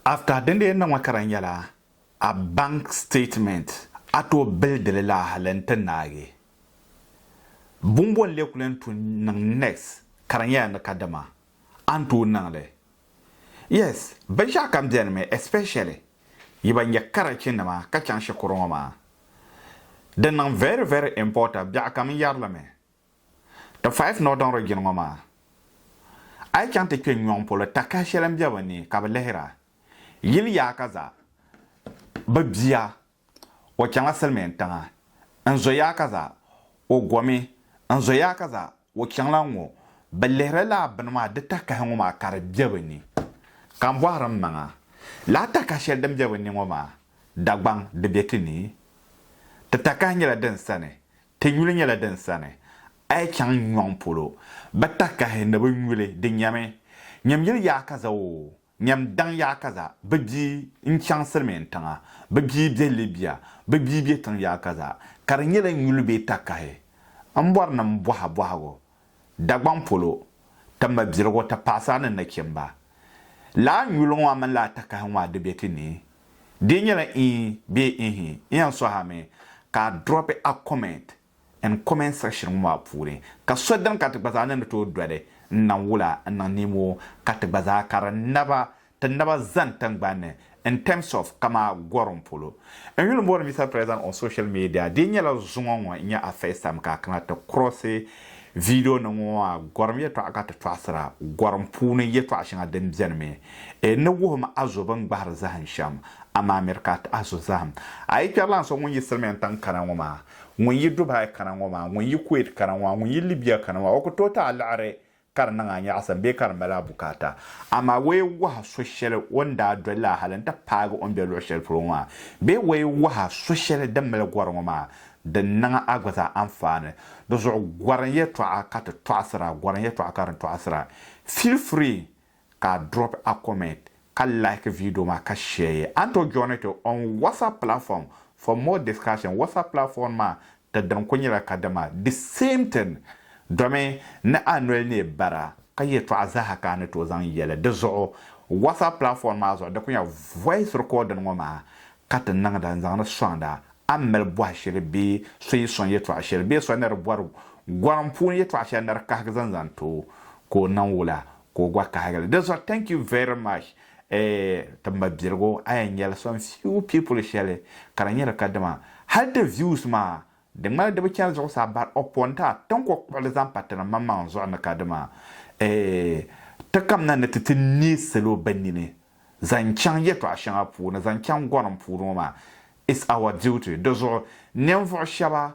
After din dee niŋ ma ka di nyɛla a bank statement a tooi bilidili la hali n ti naagi bumbɔ n lee kuli n tu niŋ next ka di nyɛla ni ka dama a ni tooi niŋli yes binshɛɣu kam bɛni mi especially yi ba nyɛ karachi nima ka chaŋ shikuru ŋɔ maa di niŋ very very importa biɛɣu kam n yɛri li mi ti five northern region ŋɔ maa a yi chaŋ ti kpɛ nyɔŋ polo takahi shɛli n bɛ bi ni ka bi lihira yili yaa ka za bi bia o chaŋ la silimiin tiŋa n zo yaa ka za o gomi n zo yaa ka za O chaŋla ŋɔ, bɛ lihiri la bini maa di takahi ŋɔ maa ka di be bɛ ni. Ka m bɔhiri m maŋa, lala takahi shɛli din be bɛ ni ŋɔ maa, Dagbaŋ, di be ti ni? Ti takahi nyɛla din sani, ti nyuli nyɛla din sani, a yi chaŋ n nyɔŋ polo, bɛ takahi ni bɛ nyuli di nyɛmi. Nyam yili yaakaza oo, Nyam daŋ yaa ka zaa, bɛ bia n-chaŋ silimiin tiŋa, bɛ bia be Libya, bɛ bia be tiŋ yaa ka zaa, ka di nyɛla nyuli bee takahi. M bɔri ni m bɔha bɔhigu, Dagbaŋ polo, ti mabiligu, ti paɣisara ni nachimba. Lala nyuli ŋɔ mini lala takahi ŋɔ a di be ti ni? Di nyɛla ii bee ihi? N yɛn sɔhi a mi ka a dropi a comments. N comment section ŋɔ maa puuni ka so dini ka ti gba zaa ni ni tooi doli n naŋ wula n niŋ niimoo ka ti gba zaa ka di naba ti naba zani tingbani ni in terms of kamaa gorim polo. N yuli bɔri Mister President on social media di nyɛla zuŋɔ ŋɔ n nyɛ a first time ka a kana ti cross video nim ŋɔ maa gorim yɛtɔɣa ka ti tɔɣisira gorim puuni yɛtɔɣa shɛŋa din beni mi e ni wuhim a zo bini gbahiri zahim shɛm amaa miri ka a ti a zo zahim a yi kpɛrilana so ŋun yi silimiin tiŋ kana ŋɔ maa Ŋun yi Dubai kana ŋɔ maa, ŋun yi Kuwait kana ŋɔ maa, ŋun yi Libya kana ŋɔ maa, o ku tooi ti a liɣiri ka di niŋ a nyaɣisim bee ka di mali a bukaata. Amaa waye waha so shɛli o ni daa doli la hali n-ti paagi o ni be luɣ shɛli polo ŋɔ maa bee waye waha so shɛli din mali gɔri ŋɔ maa, di niŋ a gba zaa anfaani. Di zuɣu gɔrim yɛtɔɣa ka ti tɔɣisira, gɔrim yɛtɔɣa ka di tɔɣisira. Feel free ka a drop a comment ka like video maa ka share ye. A ni tooi join ti on WhatsApp platform for more discussion. WhatsApp platform maa ti dini kuli nyɛla kadama the same thing domi ni a noli neei bara ka yɛltɔɣa zaaha ka a ni tooi zaŋ yɛli di zuɣu WhatsApp platform maa zuɣu di kuli nyɛla voice recording ŋɔ maa ka ti niŋda n zaŋdi soŋda a ni mali bɔhi shɛli bee so yi soŋ yɛltɔɣa shɛli bee so ni di bɔri gɔrim puuni yɛltɔɣa shɛli ni di kahigi zaŋ zaŋ ti o ka o niŋ wula ka o gba kahigili di zuɣu thank you very much eeh ti ma biligu a yɛn nyɛla some few people shɛli ka di nyɛla kadama hali di views maa di ŋmani di bi chani zuɣusaa but upon that ti ni kɔŋ kpuɣili zaŋ pa ti ni maŋmaŋ zuɣu ni kadama eeh ti kamina ni ti ti neei salo bɛ nini zaŋ chaŋ yɛltɔɣa shɛŋa puuni zaŋ chaŋ gorim puuni ŋɔ maa it's our duty di zuɣu ninvuɣu shɛba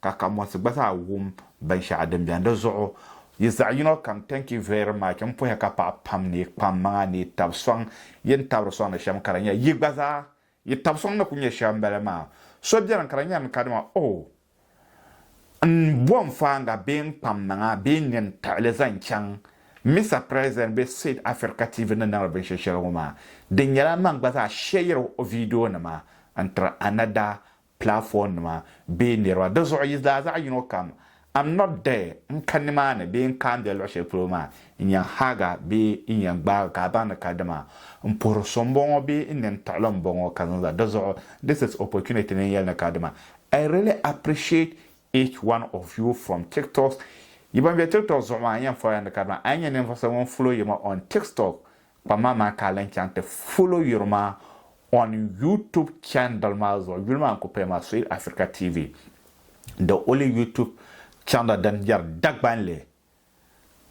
ka kamonsi gba zaa wum binshɛɣu din bɛni di zuɣu yi zaɣi yino kam thank you very much n puhi ka paɣa pam ni yi kpam maŋa ni yi tabi sɔŋ yi ni tabiri sɔŋ ni shɛm ka di nyɛ yi gba zaa yi tabi sɔŋ ni ku nyɛ shɛm bali maa so bɛni ka di nyɛri ni kadama oh n bo n faaŋa bee n kpam maŋa bee n nyɛ n taɣili zaŋ chaŋ Mister President bee Said Africa TV ni niŋdi binshɛ shɛli ŋɔ maa di nyɛla man gba zaa share o video nima n tiri another platform nima bee niriba di zuɣu yi zaa zaɣi yino kam am not there n ka nimaani bee n kaandiya luɣi shɛli polo maa n yɛn haaga bee n yɛn gbaagi ka a baŋ ni ka dima n puhiri so n bɔŋɔ bee n nini tiɣili n bɔŋɔ ka zaŋ zali di zuɣu this is opportunity ni n yɛli ni ka dima I really appreciate each one of you from tiktoks yi ban be tiktok zuɣu maa n yɛn fɔrila ni ka dima a yi nyɛ ninvuɣu so ŋun follow yi ma on tiktok Kpam maa maa ka a lan chaŋ ti follow yuri maa on YouTube channel maa zuɣu. Yuli maa n-kuli paya maa Swahili Africa TV, the only YouTube channel din yɛri Dagbanli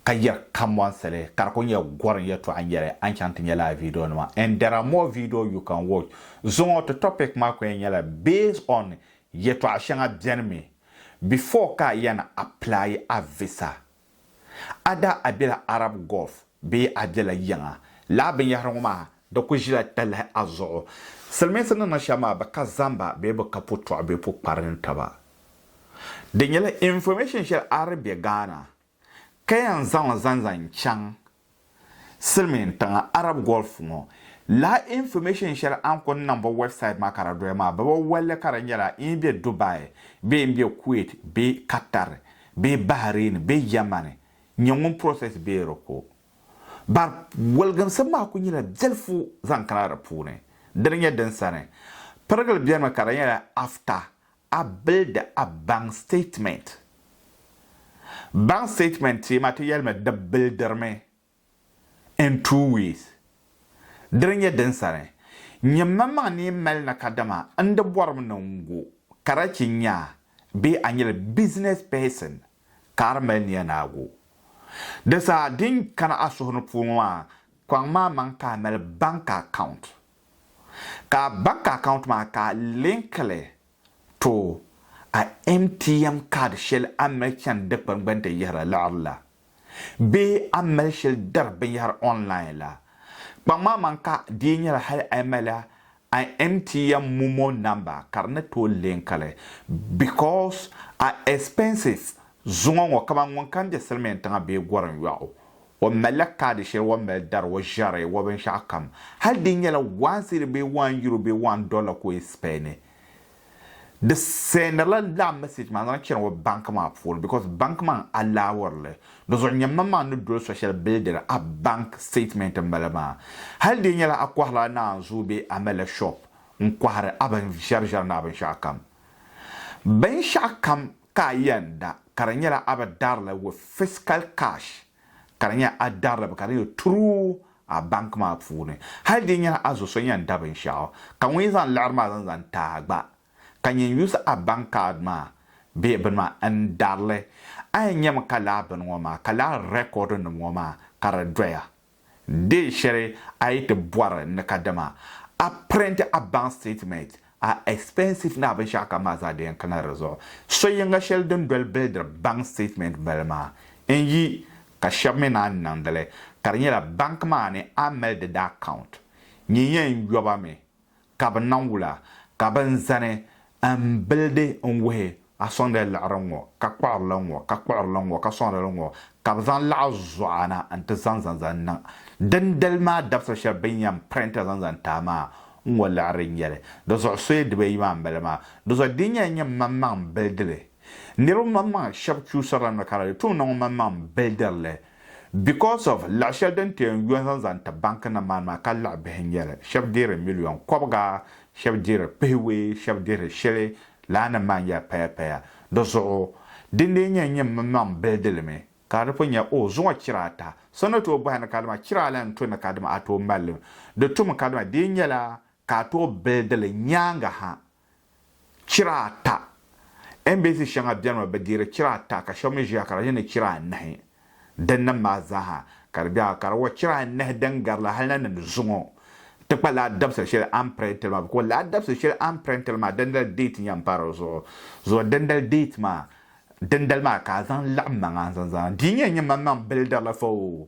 ka yɛri kambɔnsili ka di kuli nyɛ gɔrim yɛltɔɣa n-nyɛli. A ni chaŋ ti nya lala video nima and there are more video you can watch. Zuŋɔ ti topic maa kuli nyɛla based on yɛtɔɣa shɛŋa beni mi before ka a yɛn apply a visa A daa a bela Arab Gulf bee a bela yiŋa, lala binyɛhiri ŋɔ maa di ku ʒila talahi a zuɣu. Silimiinsi ni niŋ shɛm maa bɛ ka zamba bee bɛ ka putɔɣu bee pukpari ni taba. Di nyɛla information shɛli a di be Ghana ka yɛn zaŋ li zaŋ zaŋ chaŋ Silimiin tiŋa Arab Gulf ŋɔ laa information shɛli a ni kuni niŋbu website maa ka di doya maa bɛ bi wali li ka di nyɛla n yi be Dubai bee m be Kuwait bee Qatar bee Bahrain bee Germany n-nyɛ ŋun process bee di ko bar waligimsim maa kuli nyɛla biɛlifu zaŋ kana di puuni dini nyɛ din sani pirigili benimi ka di nyɛla after A bildi a bank statement. Bank statement ti ma ti yɛlimi di bildirimi in two ways. Dini nyɛ din sani, nyɛ maŋmaŋ ni yi mali na kadama n di bɔrimi ni n gu karachi nyaa bee a nyɛla business person ka a di mali nia ni a gu. Di saha din kana a suhu ni puu ŋɔ maa, kɔŋ ma a maŋ ka a mali bank account. Ka a bank account maa ka a link li to a MTM card shɛli a ni mali chani dikpuni gbuni ti yihiri liɣiri la bee a ni mali shɛli dari binyɛhiri online la. Kpaŋmaŋ maŋ ka di yi nyɛla hali a yi mali a MTM momo number ka di ni tooi link li because a expenses zuŋɔ ŋɔ kamani ŋun kam be silimiintiŋa bee gɔriŋ yɔɣu O malila kaadi shɛli o ni mali dari o ʒiɛri o binshɛɣu kam, hali di nyɛla wɔɔn siidi bee wɔɔn yuro bee wɔɔn dɔlla ka o yi sipayi ni. Di sɛɛnirila lala message maa zaŋ chani o banki maa puuni because banki maa n-allowori li. Di zuɣu nyammaŋmaŋ ni doli so shɛli bilidiri a banki statement m-mali maa. Hali di nyɛla a kɔhirila naanzuu bee a malila shop n-kɔhiri a binʒiɛriʒiɛri ni a binshɛɣu kam. Binshɛɣu kam Ka a yɛnda ka di nyɛla a bi darili with physical cash ka di nyɛ a darili bi ka di nyɛ through a bank maa puuni. Hali di nyɛla a zo so yɛn da binshɛɣu ka ŋun yi zaŋ liɣiri maa zaŋ zaŋ ti a gba ka nyɛn use a bank card maa bee bini maa n darili, a yɛn nyɛmi ka lala bini ŋɔ maa ka lala record nim ŋɔ maa ka di doya. Deen shɛli a yi ti bɔri ni ka dama a print a bank statement, a expenses ni a binshɛɣu kam maa zaa di yɛn kana di zuɣu. So yiŋga shɛli din doli bilidiri bank statement bali maa n-yi ka shɛba mi naan niŋdi li ka di nyɛla bank maa ni a mali di daa account nyin yɛn yɔba mi ka bɛ nam wula, ka bɛ ni zani m-bilidi n-wuhi a sɔŋdila liɣiri ŋ-ŋɔ, ka kpuɣiri li ŋ-ŋɔ, ka kpuɣiri li ŋ-ŋɔ, ka sɔŋdi li ŋ-ŋɔ, ka bɛ zaŋ laɣ zuɣa na n-ti zaŋ zaŋ zaŋ niŋ dindali maa dabisili shɛli bɛ ni yɛn printiri zaŋ zaŋ taai maa n-ŋɔ liɣiri n-nyɛ li. Di zuɣu soya dibaayi maa m-bala maa. Di zuɣu di nyɛla nyini maŋmaŋ m-bilidi li. Niriba maŋmaŋ shɛba chuusirila nɔ ka di di tuumda ŋɔ maŋmaŋ m-bilidiri li. Because of laɣi shɛli din ti yɛn yo zaŋ zaŋ ti banki nim maa maa ka laɣi bihi n nyɛli shɛbi dihiri million kɔbiga shɛbi dihiri pihiwee shɛbi dihiri shɛli laa nim maa n nyɛli paya paya di zuɣu din dee nyɛ n nyɛ mi maŋ bilidilimi ka di pun nyɛ oh zuŋɔ chira ata so ni tooi bɔhi ni kadama chira ala n to ni kadama a tooi malli di tum kadama dii nyɛla ka a tooi bilidili nyaangi ha chira ata. Embassy shɛŋa beni mi bɛ deeri chira ata ka shɛba mi ʒiya ka di yini chira anahi. Dinnim maa zaaha ka di be a, ka di wa chira anahi din gari la hali na ni di zuŋɔ ti kpa laa dabisili shɛli a ni print li maa because laa dabisili shɛli a ni print li maa dindali date nyam pa di zuɣu zuɣu dindali date maa dindali maa ka a zaŋ laɣim maŋa n-zaŋ zaa di nyɛ nyɛ manmaŋ builder la fa oo.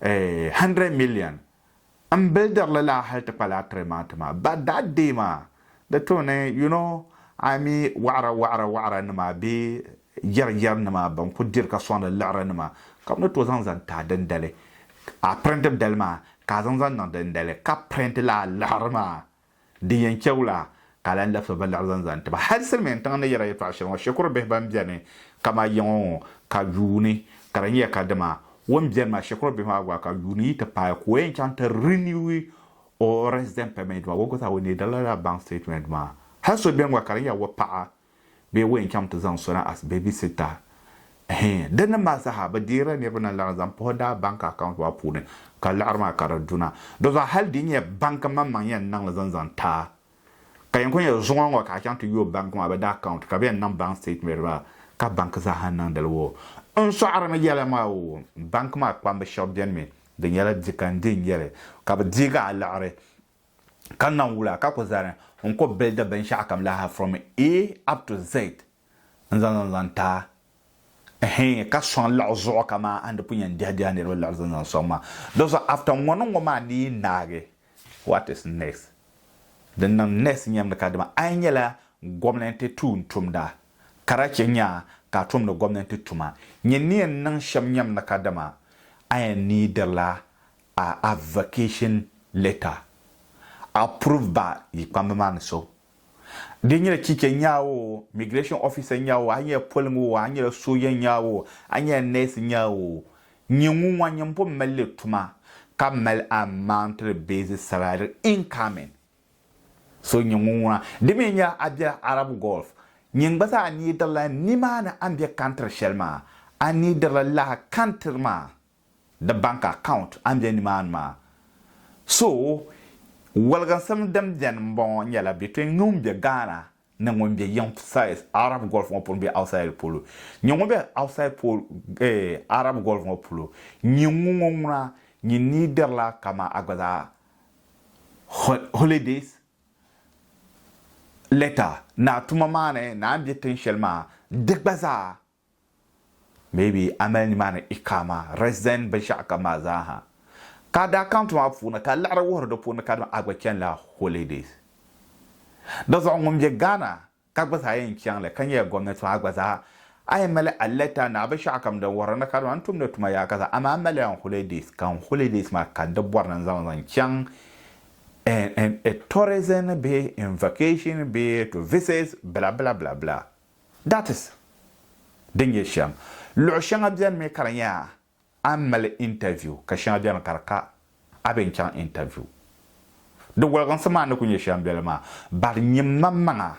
100 million n builder li laa hali ti kpali a tiri ma ti ma but that day maa di tooni you know a mi waɣira waɣira waɣira nima bee yɛri yɛri nima ban ku diri ka sɔŋdi liɣiri nima ka bɛ ni tooi zaŋ zaŋ tahi dindali a printib dali maa ka a zaŋ zaŋ niŋ dindali ka print laa liɣiri maa Di yɛn chɛ wula ka a lahi labisi ba laɣiri zaŋ zani ti ba? Hal silimiin tiŋa ni yɛra yɛtɔɣ shɛli ŋɔ, shikuru bihi bɛn beni kaman yiŋɔ ŋɔ ka yuuni, ka di nyɛ ka dima o ni beni maa shikuru bihi maa gba ka yuuni yi ti paai ka o yɛn chaŋ ti renew o resident permit maa, o gba zaa o neediri la daa baŋ statement maa. Hal so beni gba ka di nyɛla o paɣa bee wɛn chaŋ ti zaŋ sɔna as baby sitter hee di ni mali saha bi deerila niriba na laɣim zaŋ puhi daa bank account maa puuni ka laɣiri maa ka di duna di zuɣu hali di nyɛ bank n maŋmaŋ yɛn niŋli zaŋ zaŋ taai ka yɛn kuli nyɛ zuŋɔ ŋɔ ka a chaŋ ti yooi bank maa bi daa account ka bi yɛn niŋ bank statement maa ka bank zaaha niŋdili woo n sɔɣirimi yɛla maa woo bank maa kpambi shɛb bɛni mi di nyɛla di ka n di n yɛli ka bi deegi a laɣiri ka naŋ wula ka ku zani n ku bildi binshɛɣukam lahi from A up to Z n-zaŋ zaŋ zaŋ ti a, ɛhɛɛn, ka sɔŋ liɣi zuɣu kaman a ni pun yɛn dihi dihi a niriba liɣiri zaŋ zaŋ sɔŋ maa. Di zuɣu after ŋɔ ni ŋɔ maa ni yi naagi, what is next? Din niŋ next nyam ni kadama a yi nyɛla gomnanti tuuntumda ka daa chɛ nya ka a tumdi gomnanti tuma, nyini ni yɛn niŋ shɛm nyam ni kadama a yɛn niidirila A application letter approve ba yi kpamba maa ni so. Di nyɛla chicha nya o, migration officer nya o, a nyɛla poliŋ o, a nyɛla sooja nya o, a nyɛla nurse nya o, nyɛ ŋun ŋɔ nyini pun mali li tuma ka mali a monthly basic salary incoming. So nyɛ ŋun ŋuna. Di mi nya a bela Arab Gulf, nyini gba zaa a neediri la nimaani a ni be country shɛli maa, a neediri la lala country maa. Di bank account a ni be nimaani maa. So waliginsim din beni m bɔŋɔ nyɛla bɛ tooi ŋme ŋun be Ghana ni ŋun be yiŋ size Arab Gulf ŋɔ polo bee outside polo. Nyin ŋun be outside pol eh Arab Gulf ŋɔ polo nyin ŋun ŋɔ ŋuna nyin nii dirila kaman a gba zaa holidays letter ni a tuma maa ni ni a ni be tin shɛli maa di gba zaa Maybe a mali nimaani Iqama, resident binshɛɣu kam maa zaa ha. Ka a daa count maa puuni ka a liɣiri wuhiri di puuni kadama a gba chani la holidays. Di zuɣu ŋun be Ghana ka gba zaa yɛn chaŋ li ka nyɛla gomnanti maa gba zaa a yɛn mali a letter naɣi binshɛɣu kam din wuhiri ni kadama n tumdi tuma yaa ka zaa amaa a mali la n holidays ka n holidays maa ka n ti bɔri ni n zaŋ li zaŋ chaŋ in in a tourism bee in vacation bee to visit bla bla bla bla. That is, din nyɛ shɛm. Luɣi shɛŋa beni mi ka di nyɛ a ni mali interview ka shɛŋa beni ka di ka a bɛ n-chaŋ interview. Di goliginsi maa ni ku nyɛ shɛm beli maa but nyini man maŋa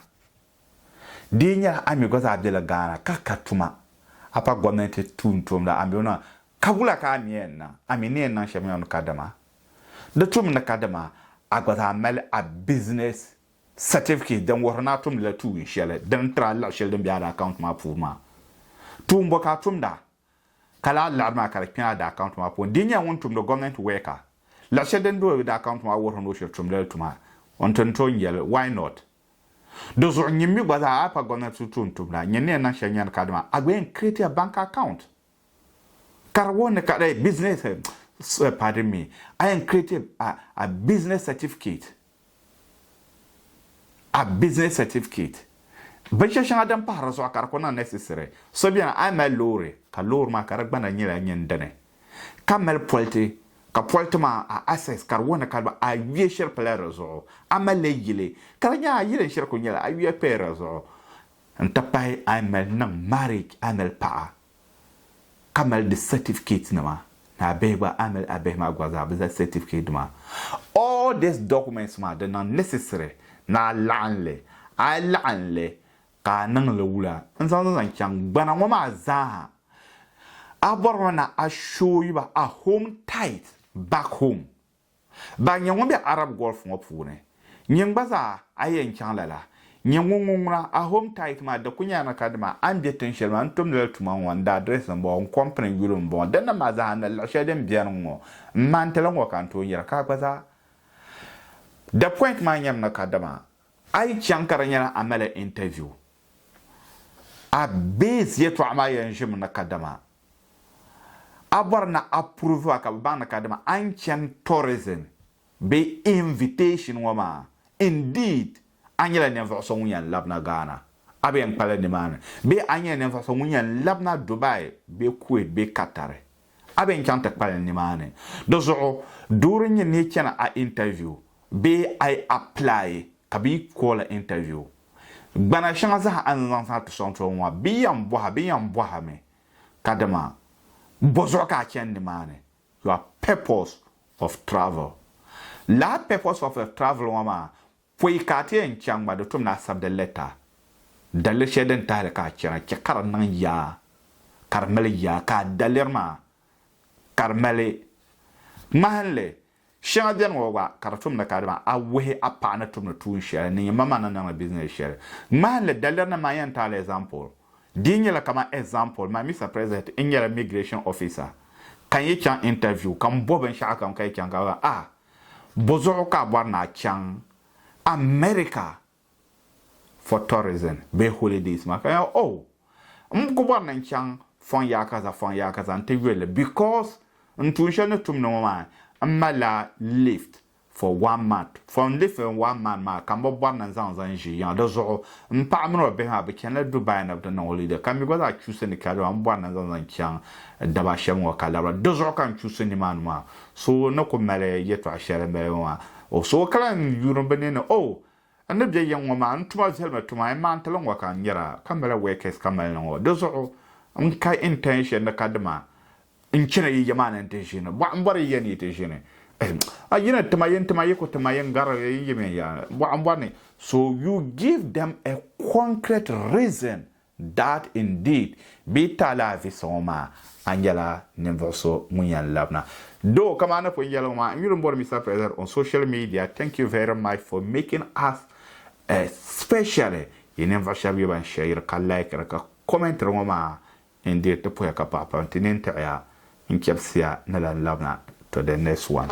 di yi nyɛla a mi gba zaa bela Ghana ka ka tuma a pa gomnanti tuuntumda a mi o niŋ ka wula ka a ni yɛn niŋ? A mi ni yɛn niŋ shɛm yɛn ni kadama? Di tumi ni kadama a gba zaa mali a business Certificate din wuhiri ni a tumdila tuun shɛli din tiri a liɣi shɛli din be a daakaunt maa puuni maa. Tuun bɔ ka a tumda ka lahi liɣiri maa ka di kpɛ a daakaunt maa puuni? Di ni nyɛla ŋun tumdi gɔmɛnt wɛɛka, liɣi shɛli din be o daakaunt maa wuhiri ni o shiri tumdali tuma n-ti ni tooi nyɛli. Why not? Di zuɣu nyini mi gba zaa a yi pa gɔmɛnt zuɣu tuun tumda, nyini ni yɛn niŋ shɛli nyani kadama a gba yɛn create ya bank account. Ka di wuhi ni ka di business eh, pardon me, I am creative a, a business certificate. A business certificate. Binshɛ shɛŋa din pahi di zuɣu ka di ku niŋ necessary. So bɛni a mali loori ka loori maa ka di gbana nyɛla nyini dini ka mali politi ka politi maa a access ka di wuhi ni ka di a yuya shiri pala di zuɣu. A mali yili ka di nyɛ a yili n shiri ku nyɛla a yuya paya di zuɣu. N ti pahi a yi mali niŋ marriage a mali paɣa ka mali di certificate nima ni a bihi gba a mali a bihi maa gba zaa bɛ zaa certificate nima all this documents maa di niŋ necessary ni a laɣim li a yi laɣim li ka a niŋ li wula n zaŋ zaŋ chaŋ gbana ŋɔ maa zaa ha a bɔrimi ni a show ba a home tight back home. Ba n-nyɛ ŋun be Arab Gulf ŋɔ puuni. Nyin gba zaa a yɛn chaŋ lala, nyin ŋun ŋun ŋuna, a home tight maa di ku nyɛla ni ka dima a ni be tin shɛli maa n-tumdi li tuma ŋɔ, n daa dirɛsi m-bɔŋɔ, n kɔmpini n yuli m-bɔŋɔ, dinni maa zaa ni liɣi shɛli din beni ŋ-ŋɔ, m ma n-ti li ŋ-ŋɔ ka n tooi nyɛra ka a gba zaa The point maa nyɛmi ni ka dima a yi chaŋ ka di nyɛla a mali interview, a base yɛtɔɣa maa yɛn ʒimi ni ka dima A bɔri ni a prove a ka bɛ baŋ ni kadama a ni chani tourism bee invitation ŋɔ maa, indeed a nyɛla ninvuɣu so ŋun yɛn labina Ghana, a bi yɛn kpali nimaani, bee a nyɛla ninvuɣu so ŋun yɛn labina Dubai bee Kuwait bee Qatar, a bi yɛn chaŋ ti kpali nimaani. Di zuɣu, doo din nyɛ ni yi chani a interview bee a yi apply Ka bɛ yi kooli interview gbana shɛŋa zaa a ni zaŋ zaŋ ti sɔŋ tɔbu ŋɔ ha, bɛ yɛn bɔha bɛ yɛn bɔha mi ka dama bɔzuɣu ka a chani nimaani, your purpose of travel. Lala purpose of your travel ŋɔ maa pɔi ka a ti yɛn chaŋ gba di tum ni a sabdi letter. Daliri shɛli din tahili ka a chana chɛ ka di niŋ yaa ka di mali yaa ka a daliri maa ka di mali ŋmahinli. Shɛŋa beni ŋɔ gba ka di tum ni ka dama a wuhi a paɣa ni tumdi tuun shɛli ni nyɛ maŋmaŋ ni niŋdi bizinɛs shɛli. Ŋmahinli, dalirinima maa yɛn taala ɛzampul. Di yi nyɛla kamani ɛzampul, man Mister President n nyɛla migration officer ka n yi chaŋ interview ka m bɔhi binshɛɣu kam ka yi chaŋ ka bɛ zaŋ a, bɔzuɣu ka a bɔri ni a chaŋ America for tourism bee holidays maa ka ya oh m ku bɔri ni n chaŋ fɔŋ yaa kaza fɔŋ yaa kaza n ti yuli li because n tuun shɛli ni tumdi ŋɔ maa m malila lift for one month for n live in one month maa ka m bi bɔri ni n zaŋ zaŋ ʒi yiŋa di zuɣu m paɣa mini o bihi maa bɛ chanila Dubai ni bɛ ti niŋ holiday ka mi gba zaa chuusi ni ka dama m bɔri ni n zaŋ zaŋ chaŋ daba shɛm ŋɔ ka labira di zuɣu ka n chuusi nimaani maa So ni ku mali yɛtɔɣ shɛli n mali ŋɔ, o suhu ka lan yuuni bɛ ni ni, O! N ni be yiŋ ŋɔ maa, n tuma zalimi tuma, n maantili ŋɔ ka n nyara, ka n mali wɛkɛs ka mali ni ŋɔ. Di zuɣu n ka intention ni kadima n chana yi ya maa ni nti ʒini. Bɔɣi m bɔri yi ya ni yi ti ʒini. A yi ni tima yi ni tima yi ku tima yi ni garili yi ni yim yi ya. Bɔɣi m bɔri ni. So you give them a concrete reason That indeed bee Taalaa Visa ŋɔ maa a nyɛla ninvuɣu so ŋun yan labina doo ka maa ni pun yɛli ŋɔ maa n yuli n bɔri Mister President on social media thank you very much for making us especially yi ninvuɣu shɛba yi ban shɛyiri ka likiri ka commentiri ŋɔ maa indeed ti puhiya ka paɣi pam ti nini tiɣiya n chɛbisiya ni lan labina to the next one.